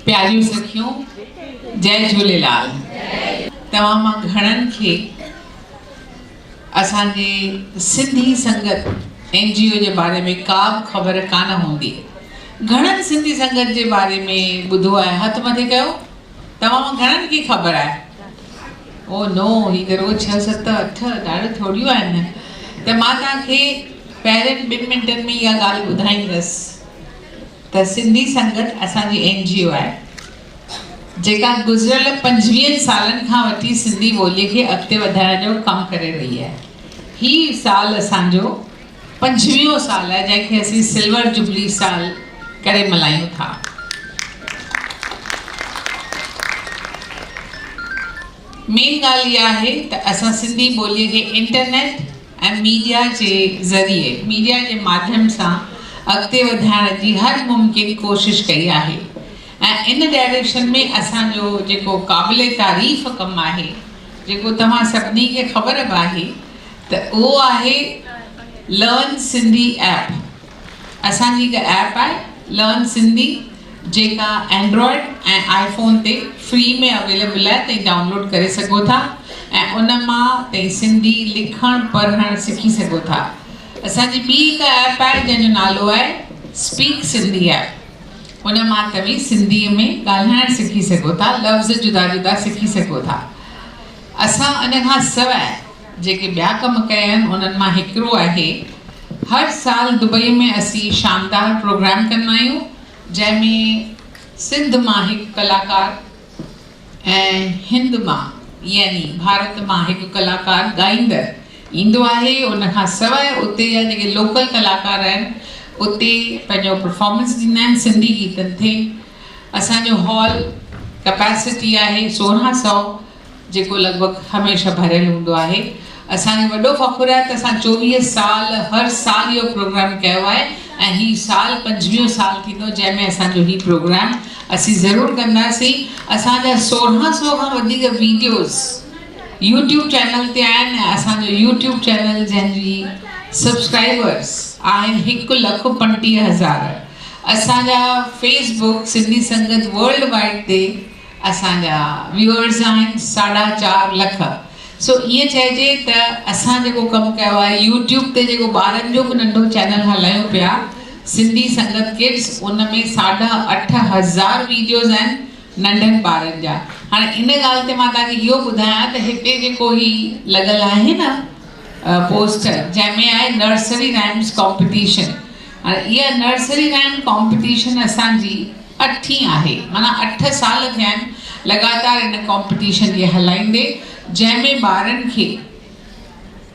پياريون سکيون جئ جهوليلال توهان مان گهڻن کي اسان جي سنڌي سنگت اين جي او جي باري ۾ ڪا به خبر ڪانه هوندي گهڻن سنڌي سنگت جي باري ۾ ٻڌو آهي هٿ مٿي ڪيو توهان مان گهڻن کي خبر آهي او نو هي ته روز ڇهه ست اٺ ڏاڙهيون ٿوڙيون آهن ته مان توهان کي پهرين ٻن منٽن ۾ اها ڳالهه ٻڌائيندس ته سنڌي سنگت اسان جي اين جي او آهي جيڪا گذريل پنجويهن سالن کان وٺي سنڌي ٻولي کي اڳتي وڌائڻ جو ڪم ڪري رهي آهي هي سال اسان جو پنجويهون سال آهي جنهن کي اسين سلور جبلي سال ڪري ملهايون ٿا مين ڳالهه اها آهي ته اسان سنڌي ٻولي کي انٽرنيٽ ۽ ميڊيا جي ذريعي، ميڊيا جي ماڌيم سان اڳتي وڌائڻ جي هر ممڪن ڪوشش ڪئي آهي ۽ ان ڊائريڪشن ۾ اسان جو جيڪو قابل تعريف ڪم آهي جيڪو توهان سڀني کي خبر به آهي ته اهو آهي لرن سنڌي ايپ. اسان جي هڪ ايپ آهي لرن سنڌي جيڪا اينڊرائيڊ ۽ آئي فون تي فري ۾ اويليبل آهي تهين ڊائونلوڊ ڪري سگهو ٿا ۽ ان مان تهين سنڌي لکڻ پڙهڻ سکي سگهو ٿا اسان جي ٻي هڪ ايپ آهي جنهن جو نالو آهي اسپيڪ سنڌي ايپ ان مان توهين سنڌي ۾ ڳالهائڻ سکي سگهو ٿا لفظ جدا جدا سکي سگهو ٿا اسان ان کان سواء جيڪي ٻيا ڪم ڪيا آهن انهن مان هڪڙو آهي هر سال دبئي ۾ اسين شاندار پروگرام ڪندا آهيون جنهن ۾ سنڌ مان هڪ ڪلاڪار ۽ هند مان يعني ڀارت مان هڪ ڪلاڪار ڳائيندڙ ايندو آهي ان کان سواء اتي جا جيڪي لوڪل ڪلاڪار آهن اتي پنهنجو پرفارمنس ڏيندا آهن سنڌي گيتن تي اسان جو هال ڪپيسٽي آهي سورهن سئو جيڪو لڳ ڀڳ هميشه ڀريل هوندو آهي. اسان کي وڏو فخر آهي ته اسان چوويهه سال هر سال اهو پروگرام ڪيو آهي ۽ هي سال پنجويهون سال ٿيندو جنهن ۾ اسان جو هي پروگرام اسين ضرور ڪنداسين. اسان جا سورهن سو کان وڌيڪ ويڊيوز يوٽيوب چينل تي آهن ۽ اسان جو يوٽيوب چينل جنهن جي سبسڪرائبرز آهن هڪ لک پنٽيهه هزار. اسان جا Facebook Sindhi Sangat worldwide تي اسان جا ويوئرز آهن ساڍا چار لک سو ائين چئجي ته اسان جيڪو ڪم ڪيو آهي يوٽيوب تي جيڪو ٻارن جو به ننڍو چينل هلايون پيا سنڌي سنگت ڪڊس ان ۾ ساڍا اٺ هزار ويڊيوز آهن ننڍن ٻارن جا هاڻي ان ڳالهه تي مان توهان کي اهو ٻڌايان ته هتي جيڪو هي لڳل آهي نه پوسٽر جنهن ۾ آهي نرسري رائمس ڪامپيٽيشن اها نرسري رائيم ڪامپٽيشن اسان جي اٺين آهي معنيٰ اٺ سال ٿيا آهن لڳاتار ان ڪامپٽيشن کي هلائيندي جنهن ۾ ٻارن کي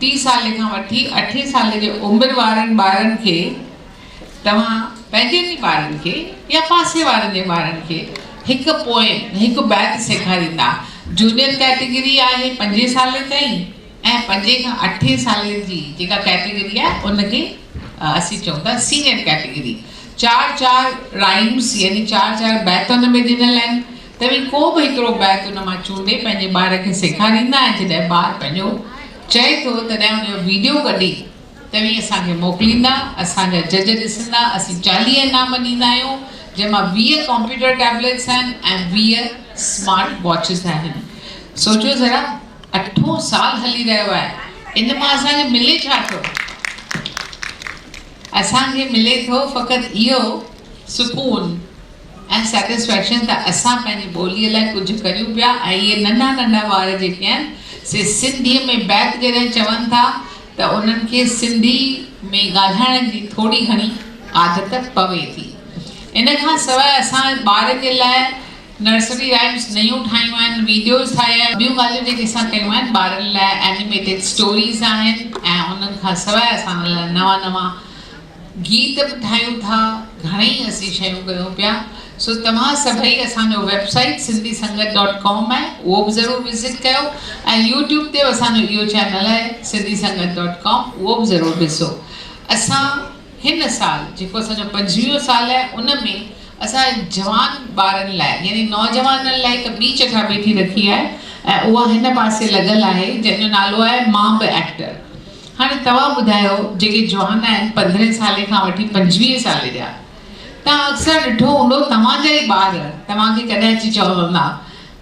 ٽي سالي کان وٺي اٺين سالي جي عمر وارن ٻارن کي توهان پنهنجن ئي ٻارن کي يا پاسي وارن جي ٻارن کي هڪ پوئم هڪ بيت سيکاريندا جونيئر ڪيٽيگري آهي پنجين سالي تائين ۽ پنجين کان اٺين سالين جي جيڪا ڪيٽيگري آهي ان کي اسين چئون ٿا سينيئر ڪيٽيگري. چار چار رائيمس يعني چار چار بيت ان ۾ ڏنل آهن. توهين ڪو به هڪڙو بيت ان مان چونڊي پنهنجي ٻار کي سيکاريندا ۽ جڏهن ٻار پنهنجو چئي ٿو تڏهن ان جو ويڊيو ڪڍي توهين اسان کي موڪليندا اسان جا جج ڏسندا اسين چاليهه انعام ڏيندا آهيون جنهن مان ويهه ڪمپيوٽر ٽيبليٽس آهن ۽ ويهه سمارٽ واچز آهن سوچيو ذرا اٺون سال هلي رهيو آهي ان مان اسان کي ملي ڇا ٿو؟ اسان کي ملي ٿو فقط اهو سڪون ۽ سيٽسفيڪشن ته اسان پنهنجي ٻوليء لاء ڪجهه ڪريون پيا ۽ اهي ننڍا ننڍا ٻار جيڪي آهن سي سنڌيء ۾ بيت جڏهن چون ٿا ته انهن کي سنڌي ۾ ڳالهائڻ جي ٿوري گهڻي عادت پوي ٿي. ان کان سواء اسان ٻارن جي لاء نرسري رائمز نيون ٺاهيون آهن، ويڊيوز ٺاهيا آهن، ٻيون ڳالهيون جيڪي اسان ڪيون آهن ٻارن لاء اينيميٽيڊ اسٽوريز آهن ۽ انهن کان سواء اسان ان لاء نوان نوان گيت به ٺاهيون ٿا، گهڻيئي اسين شيون ڪيون پيا، سو توهان سڀئي اسان جو website Sindhi Sangat dot com آهي اهو به ضرور وزٽ ڪيو ۽ يوٽيوب تي به اسان جو اهو چينل آهي سنڌي سنگت ڊاٽ ڪام اهو به ضرور ڏسو اسان هن سال جيڪو اسان جو پنجويهون سال آهي ان ۾ اسان جوان ٻارن لاء يعني نوجوانن لاء هڪ ٻي چٽاڀيٽي رکي آهي ۽ اها هن پاسي لڳل آهي جنهن جو نالو آهي مان به ايڪٽر هاڻي توهان ٻڌايو جيڪي جوان آهن پندرهين سالي کان وٺي پنجويهه سالي جا توهان اڪثر ڏٺو هوندو توهان جا ئي ٻار توهان کي ڪڏهن اچي چوندا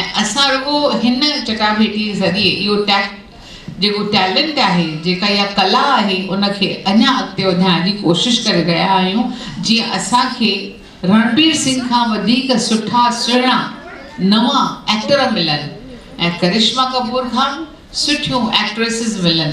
۽ اسان رڳو هن چٽاڀيٽي ذريعي اهو ٽيڪ جيڪو ٽيلنٽ آهي، جيڪا اها ڪلا آهي ان کي اڃا اڳتي وڌائڻ جي ڪوشش ڪري رهيا آهيون جيئن اسان کي رڻبير سنگهه کان وڌيڪ سٺا سهڻا نوان ايڪٽر ملن ۽ ڪرشما ڪپور کان به سٺيون ايڪٽريسز ملن.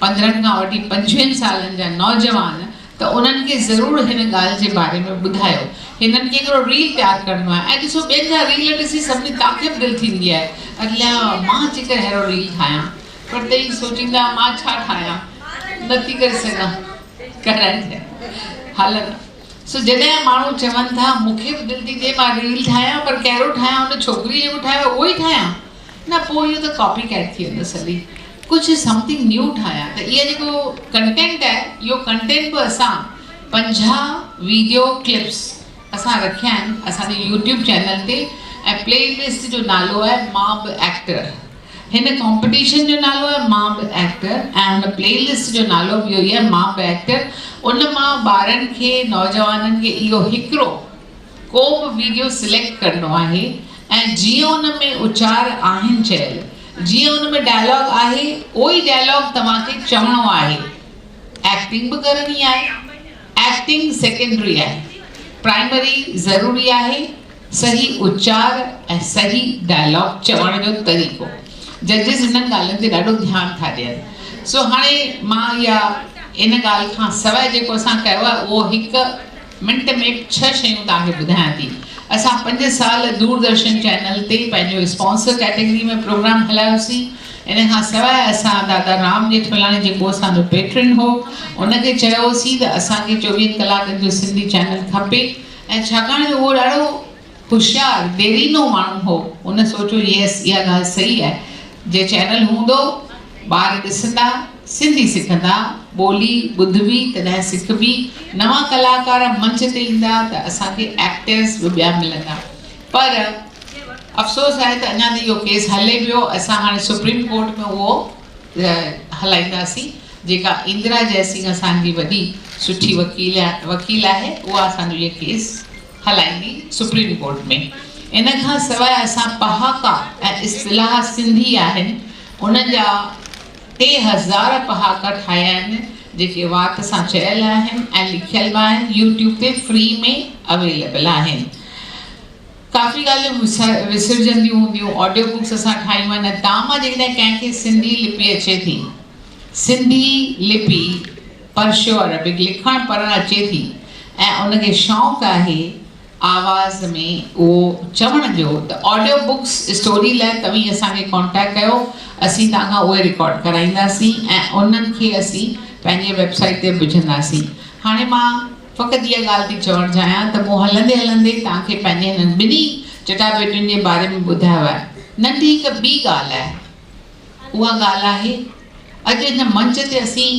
پندرهن کان وٺي پنجويهن سالن جا نوجوان ته انهن کي ضرور هن ڳالهه جي باري ۾ ٻڌايو هنن ڪيڪڙو ريل تيار ڪرڻو آهي ۽ ڏسو ٻين جا ريل ڏسي سڀني تاکي به دل ٿيندي آهي الا مان جيڪر ههڙو ريل ٺاهيان پر تئين سوچيندا مان ڇا ٺاهيان نٿي ڪري سگهان ڪرائجي هلن سو جڏهن ماڻهو چون ٿا مون کي به دل ٿي ٿئي مان ريل ٺاهيان پر ڪهڙو ٺاهيان ان ڇوڪري جيڪو ٺاهيو اهو ئي ٺاهيان نه پوء اهو ته ڪاپي ڪيٽ ٿي ويندس هلي ڪجهه سمٿنگ نيو ٺاهيان ته اهي جيڪو ڪنٽينٽ آهي اهو ڪنٽينٽ به اسان پنجاهه ويڊيو ڪلپس اسان رکيا آهن اسان جي يوٽيوب چينل تي ۽ پلي لسٽ جو نالو آهي مان به ايڪٽر هن ڪامپيٽيشن جو نالو آهي مان به ايڪٽر ۽ هن پلي لسٽ جو نالو به اهو ئي آهي مان به ايڪٽر ان مان ٻارن کي نوجوانن کي اهو هڪڙو ڪو به ويڊيو سليڪٽ ڪرڻو آهي ۽ جيئن ان ۾ اچار آهن چيل جيئن ان ۾ ڊائلاگ آهي اهوئي ڊائلاگ توهان کي چوڻو آهي ايڪٽنگ به ڪرڻي آهي ايڪٽنگ سيڪنڊري آهي پرائمري ضروري آهي صحيح اچار ۽ صحيح ڊائلاگ چوڻ جو طريقو ججز انهن ڳالهين تي ڏاڍو ڌيان ٿا ڏين سو هاڻي مان اها ان ڳالهه کان سواء جيڪو اسان ڪيو آهي اهو هڪ منٽ ۾ ڇهه شيون توهان کي ٻڌايان ٿي. اسان پنج سال دوردرشن چينل تي پنهنجو اسپانسر ڪيٽيگري ۾ پروگرام هلايوسين. ان کان سواء اسان دادا رام ڄيٺملاڻي جيڪو اسان جو پيٽرن هو ان کي چيو هوسين ته اسان کي چوويهن ڪلاڪن جو سنڌي چينل کپي ۽ ڇاڪاڻ جو اهو ڏاڍو هوشيار، ديرينو ماڻهو هو. هن سوچيو ييس اها ڳالهه صحيح آهي. جي چينل هوندو، ٻار ڏسندا، سنڌي سکندا، ٻولي ٻڌبي تڏهن سکبي، نوان ڪلاڪار منچ تي ايندا ته اسان کي ايڪٽرز به ٻيا ملندا. پر افسوس آهي ته اڃا ته اهو ڪيس هلي پيو. اسان هاڻي سپريم ڪورٽ ۾ اهو هلائينداسين. جيڪا اندرا جئسنگ اسان جي وڏي سٺي وڪيل وڪيل آهي اها اسان جو اهو ڪيس. هلائيندي سپريم ڪورٽ ۾. ان کان سواء اسان پهاڪا ۽ اصطلاح سنڌي آهن ان جا ٽي هزار پهاڪا ٺاهيا آهن جيڪي وات سان چيل آهن ۽ لکيل به آهن يوٽيوب تي فري ۾ اويليبل آهن ڪافي ڳالهيون وسرجنديون هونديون آڊيو بڪس اسان ٺاهيون آهن ۽ تام جيڪڏهن ڪنهن کي سنڌي لپي اچي ٿي سنڌي لپي پرشيو عربڪ لکڻ پڙهڻ اچي ٿي ۽ ان کي شوق آهي آواز ۾ اهو چوڻ جو ته آڊيو بڪس اسٽوري لاء توهين اسان کي ڪانٽيڪٽ ڪيو اسين توهان کان اهي رڪارڊ ڪرائينداسين ۽ انهن کي اسين پنهنجي ويب سائيٽ تي وجهنداسين هاڻي مان فقط اها ڳالهه ٿي چوڻ چاهيان ته مون هلندي هلندي توهان کي پنهنجي هنن ٻنهي چٽاڀيٽين جي باري ۾ ٻڌايو آهي ننڍي هڪ ٻي ڳالهه آهي اها ڳالهه آهي. اڄ هن منچ تي اسين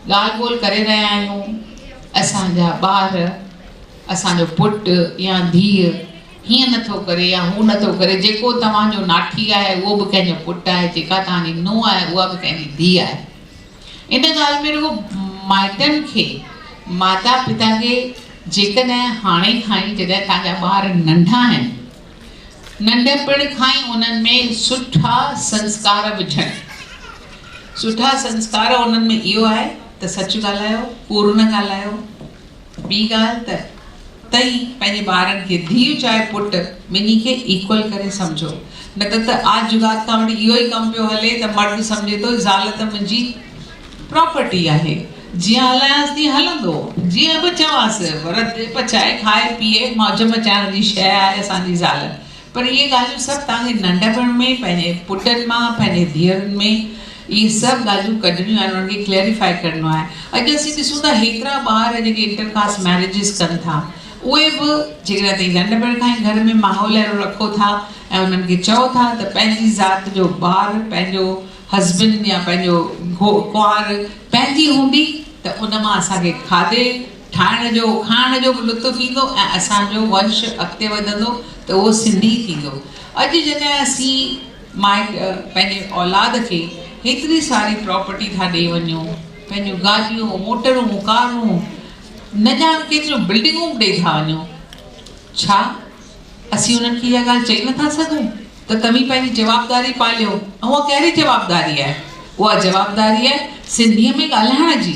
ڳالهه ٻولهه ڪري رهيا آهيون، اسان جا ٻار، اسان جو پٽ يا ڌيء هيئن نه ٿو ڪري يا هو نه ٿو ڪري، جيڪو توهان جو ناٺي آهي اهو به ڪنهن جو پٽ آهي، جيڪا توهان جي نونهن آهي اها به ڪنهن جي ڌيء آهي. ان ڳالهه ۾ رڳو مائٽن کي، ماتا پتا کي جيڪڏهن هاڻي کان ئي جڏهن توهان جا ٻار ننڍا آهن، ننڍپڻ کان ئي انهن ۾ سٺا سنسڪار وجهڻ، سٺا سنسڪار انهن ۾ اهو آهي ته سچ ڳالهايو، ڪوڙ نه ڳالهايو، ٻي ڳالهه ته تئين پنهنجي ٻارن کي ڌيء چاهي پٽ ٻنهي کي ايڪول ڪري سمجهو نه ته ته آج جگات کان وٺي اهو ئي ڪم پيو هلي ته مرد سمجهي ٿو زال ته منهنجي پراپرٽي آهي جيئن هلانس تيئن هلندو جيئن به چوانس پر رڌي پچائي کائي پيئي موج مچائڻ جي شئي آهي اسان جي زال پر اهي ڳالهيون سڀ توهان کي ننڍپڻ ۾ پنهنجي پٽن مان پنهنجي ڌيئرن ۾ اهي سڀ ڳالهيون ڪڍڻيون آهن انهن کي ڪليريفائي ڪرڻو آهي اڄ اسين ڏسون ٿا هيترا ٻار جيڪي انٽر ڪاسٽ ميريجز ڪن ٿا اهي به جيڪڏهن توهين ننڍپڻ کان ئي گهر ۾ ماحول اهڙو رکو ٿا ۽ انهن کي چئو ٿا ته پنهنجي ذات جو ٻار پنهنجو هسبنڊ يا پنهنجو گهو ڪنوار پنهنجي هوندي ته ان مان اسان کي کاڌي ٺاهڻ جو کائڻ جو به لطف ايندو ۽ اسان جو ونش اڳتي وڌندو ته اهو سنڌي ٿيندو. اڄ جڏهن اسين مائٽ پنهنجي اولاد کي هيتري ساري پراپرٽي ٿا ڏئي وڃون پنهنجون گاڏيون موٽرون ڪارون نه ڄاڻ ڪيتريون بلڊنگون به ڏئي ٿا وڃون ڇا؟ اسين انهن کي اها ڳالهه چئي نٿا سگهون ته توهين پنهنجي جوابداري پاليو ۽ اها ڪهڙي جوابداري آهي؟ اها جوابداري آهي سنڌيء ۾ ڳالهائڻ جي.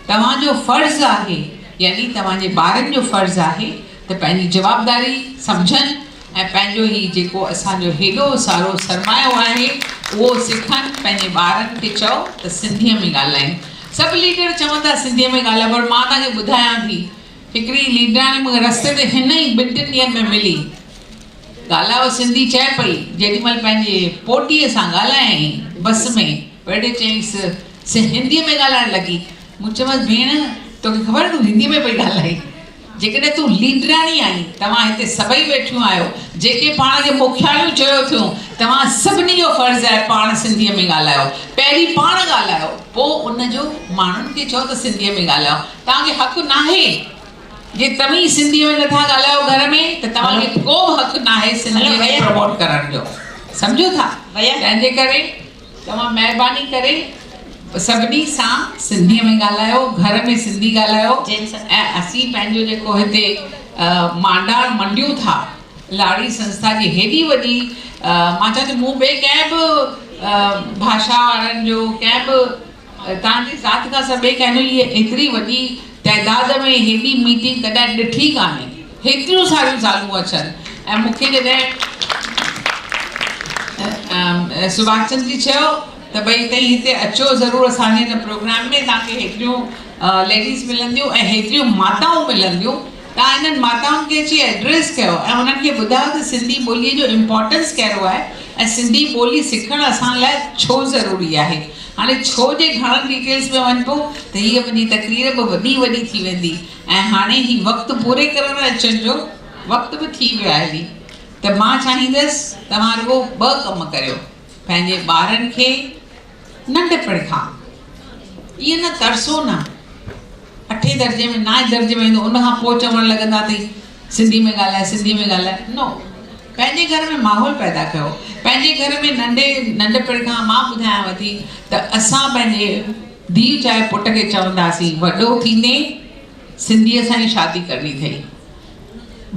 توهان جو فرض آهي يعني توهان جي ٻارن جو فرض آهي ته پنهنجي جوابداري سمجهن ۽ پنهنجو هي جيڪو اسان جو هيڏو سارو سرمايو آهي اهو سکن پنهنجي ٻارن کي چئو ته سنڌيء ۾ ڳالهائين. سڀ ليڊر چون ٿا سنڌيء ۾ ڳالهائو پر مان توهان کي ٻڌايان ٿي. هڪڙي ليڊاڻي مون کي رستي تي هن ئي ٻن ٽن ڏينهن ۾ ملي. ڳالهائو سنڌي چئي پئي، جيڏي مهل پنهنجي پوٽي سان ڳالهايائين بس ۾، ويڙهي چيائينس، سي هندي ۾ ڳالهائڻ لڳي. مون چيومانس، ڀيڻ، توکي خبر تون هندي ۾ پئي ڳالهائين. جيڪڏهن تون ليڊاڻي آهين، توهان هتي سڀئي ويٺيون آهيو، جيڪي پاڻ کي مکياڻيون چيو ٿيون، توهان سڀني جو فرض آهي پاڻ سنڌيء ۾ ڳالهايو. پهرين پاڻ ڳالهايو، پوء ان جو ماڻهن کي چئو ته سنڌيء ۾ ڳالهايو. توهان کي حق ناهي جي توهين سنڌي ۾ نه ٿا ڳالهايو گهر ۾ ته توهان کي ڪو به حق ناهي سنڌي کي پروموٽ ڪرڻ جو سمجهو ٿا تنهن جي ڪري توهان مهرباني ڪري سڀني سان سنڌي ۾ ڳالهايو گهر ۾ سنڌي ڳالهايو ۽ اسين پنهنجو جيڪو هتي مانڊاڻ منڊيون ٿا لاڙي سنسٿا جي هيڏي وڏي مان چاهيان ٿي مون ٻي ڪنهن به ڀاشا وارن جو ڪنهن به توهان جي ذات کان سواء ٻئي ڪنهن اهي ايتري وڏي تعداد ۾ هيڏي ميٽنگ ڪڏهن ڏٺي ڪانهي. هيتريون ساريون زالون اچن ۽ مون کي جڏهن سوڀاش چند جي چيو ته ڀئي تئين هتي اچو ضرور اسان جي هن پروگرام ۾ توهان کي هيتريون ليڊيز ملنديون ۽ هيتريون ماتائون ملنديون. تان انهن ماتائن کي اچي ايڊريس ڪيو ۽ انهن کي ٻڌايو ته سنڌي ٻوليء جو امپارٽنس ڪهڙو آهي ۽ سنڌي ٻولي سکڻ اسان لاء ڇو ضروري آهي. هاڻي ڇو جي گهڻن ڊيٽيلز ۾ وڃبو ته هيء منهنجي تقرير به وڏي وڏي ٿي ويندي ۽ هاڻي هي وقت پوري ڪرڻ اچڻ جو وقت به ٿي ويو آهي ته مان چاهيندس توهان رڳو ٻه ڪم ڪريو. پنهنجي ٻارن کي ننڍپڻ کان ائين نه ترسو نه اٺين درجي ۾ نائين درجي ۾ ايندو ان کان پوء چوڻ لڳندا تي سنڌي ۾ ڳالهاء سنڌي ۾ ڳالهاء نو پنهنجي گهر ۾ ماحول پيدا ڪيو پنهنجي گهر ۾ ننڍي ننڍپڻ کان مان ٻڌايانو ٿي ته اسان پنهنجي ڌيء چاهي پٽ کي چونداسين وڏو ٿيندين سنڌيء سان ئي شادي ڪرڻي اٿئي،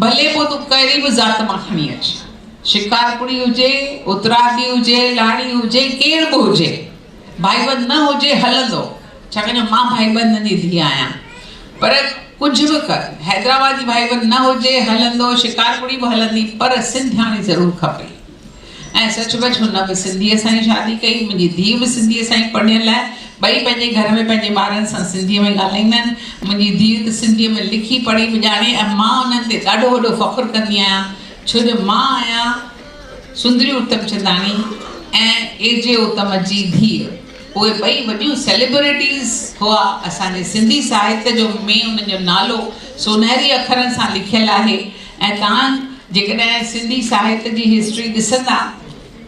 ڀلي پوء تون ڪهڙي به ذات مان کڻي اچ، شڪارپوري هجي، اترارجي هجي، لاڙي هجي، ڪير به هجي، ڀائيبند نه هجي هلندو، ڇاڪاڻ جو مان ڀائيبندن جي ڌيء آهيان. پر ڪجهه به ڪر، حيدرآباد جي ڀائيبند نه هجي هلندو، شڪارپوري به هلندي، پر سنڌياڻي ضرور کپئي. ۽ سچ پچ هن به سنڌيء سان ئي شادي ڪئي. منهنجي ڌيء به سنڌيء سان ئي پڙهيل آهي. ٻئي پنهنجي گهر ۾ پنهنجي ٻارن سان سنڌيء ۾ ڳالهائيندا آهن. منهنجي ڌيء ته سنڌيء ۾ لکي پڙهي به ڄاڻي ۽ مان انهن تي ڏاڍو وڏو فخر ڪندي آهيان ڇو جو مان آهيان سندري اتمچنداڻي ۽ اي جي اتم جي ڌيء. اهي ٻئي وڏيون سيليبريٽيز هئا. اسان جي سنڌي ساهت جو ۾ انهن جو نالو سونهري اکرن سان لکيل آهي. ۽ توهان جيڪڏهن سنڌي ساهت جي هسٽري ڏسندا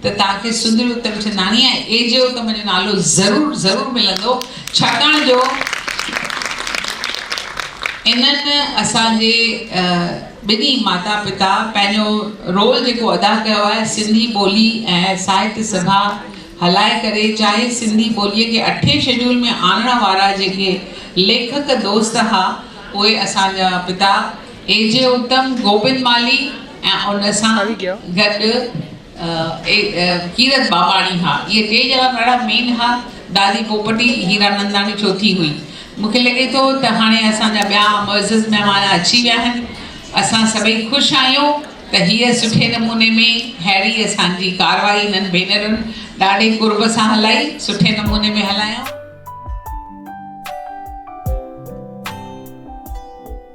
ته توهان کي سندري اتمچنداڻي ۽ اي جي اتم جو نالو ضرور ضرور ملندو ڇاڪاڻ جو انهن اسان جي ٻنهي ماتا پتا پنهنجو رول جيڪو ادا ڪيو آهي سنڌي ٻولي ۽ ساهت سڀا هلائي ڪري چاهي سنڌي ٻولي کي اٺين شيڊول ۾ آڻڻ وارا جيڪي ليکڪ دوست ها اهي اسان جا پتا اي جي اتم گوبند مالهي ۽ ان سان گڏ ڪيرت ٻاٻاڻي ها. اهي ٽي ڄڻا ڏاڍا مين ها. دادي پوپٽي هيراننداڻي چوٿين هئي. مون کي لڳي ٿو ته هاڻي اسان جا ٻيا معزز مهمان اچي ويا آهن. اسان سڀئي خوش آهيون ته هيء سٺي نموني ۾ ههڙي اسان جي ڪارروائي هنن ڀينرن ڏاڍي قرب سان هلائي، سٺي نموني ۾ هلايائون.